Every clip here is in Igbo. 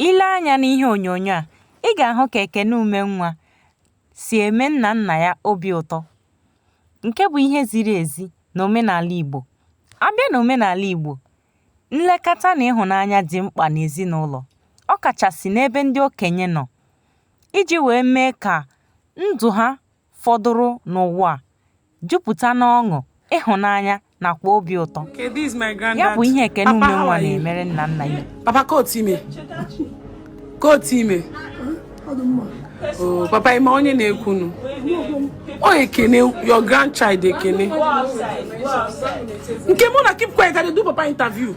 Ile anya n'ihe onyonyo a, ị ga-ahụ ka Ekene Umenwa si eme nna nna ya obi ụtọ nke bụ ihe ziri ezi na omenala Igbo. A bịa n'omenala Igbo, nlekọta na ịhụnanya dị mkpa n'ezinụlọ, ọ kachasị n'ebe ndị okenye nọ iji wee mee ka ndụ ha fọdụrụ n'ụwa jupụta n'ọṅụ, ịhụnanya, nakwa obi ụtọ. Ya bụ ihe Ekene Umenwa na-emere nna nna ya. Papa kootu ime. Kootu ime. Oh, papa ị ma onye na-ekwunu. Ọ Ekene, your grandchild Ekene. Make una keep quiet, I dey do papa interview.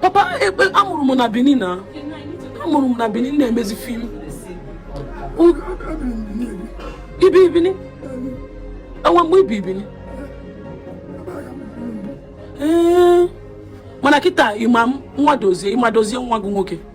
papa ekpe a mụrụ m na benin na a mụrụ m na benin na-emezi fim i bi benin o nwe mgbe i bi benin ee mana kịta ị ma m nwa dozie ị ma dozie nwa gị nwoke